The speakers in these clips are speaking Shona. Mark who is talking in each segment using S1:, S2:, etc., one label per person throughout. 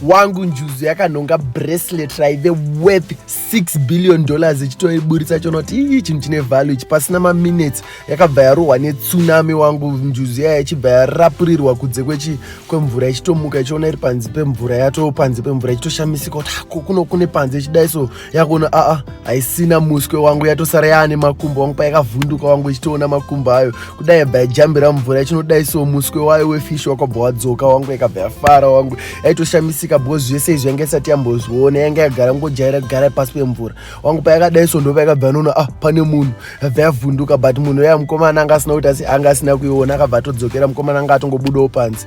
S1: wangu njuzu yakanhonga bracelet raive worth 6 billion dollars ichitoiburitsa chonoti ii chinhu chine value ichi pasina maminutes yakabva yarohwa netsunami wangu njuzu yaya ichibva yarapurirwa kudze kwechi kwemvura ichitomuka ichiona iri panze pemvura yato panze pemvura ichitoshamisika kuti hako kuno kune panze ichidai so yakuona aa haisina muswe wangu yatosara yaane makumbo wangu payakavhunduka wangu ichitoona makumbo ayo kudai yabva yajambira mumvura ichinodai so muswe wayo wefishi wakabva wadzoka wangu yakabva yafara wangu yaitoshamisika because zvese izvi yanga isati yambozviona yanga yagara ngojaira kugara pasi pemvura wangu payakadai so ndopa yakabva yanoona ah pane munhu yabva yavhunduka but munhu yaya mukomana anga asina kuti asi anga asina kuiona akabva atodzokera mukomana anga atongobudawo panze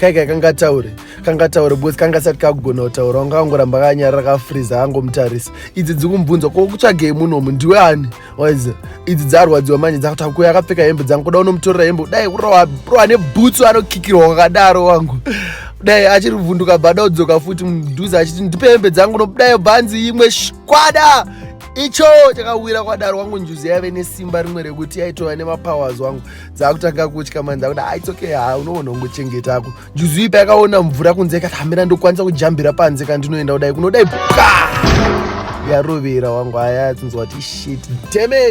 S1: kai kai kangataure kangataure because kanga sati kakugona kutaura wanga kangoramba kanyarira kafriza kangomutarisa idzi dzikumbunzwa ko kutsvagei munomu ndiwe ani waize idzi dzarwadziwa manje dzakutakuya akapfeka hembe dzangu kuda unomutorera hembe kudai kurowa rowa nebhutsu anokikirwa kwakadaro wangu dai achiri vhunduka bada udzoka futi mudhuze achiti ndipe hembe dzangu nokudai bhanzi imwe shkwada icho chakawira kwadaro wangu njuzi yaive nesimba rimwe rekuti yaitova nemapowers wangu dzakutanga kutya manje dzakuda ah, it's okay ha ah, unoona ungochengetako njuzu ipa yakaona mvura kunze ikati hamira ndokwanisa kujambira panze kana ndinoenda kudai kunodai bwa yarovera wangu aya tinzwa kuti shit demet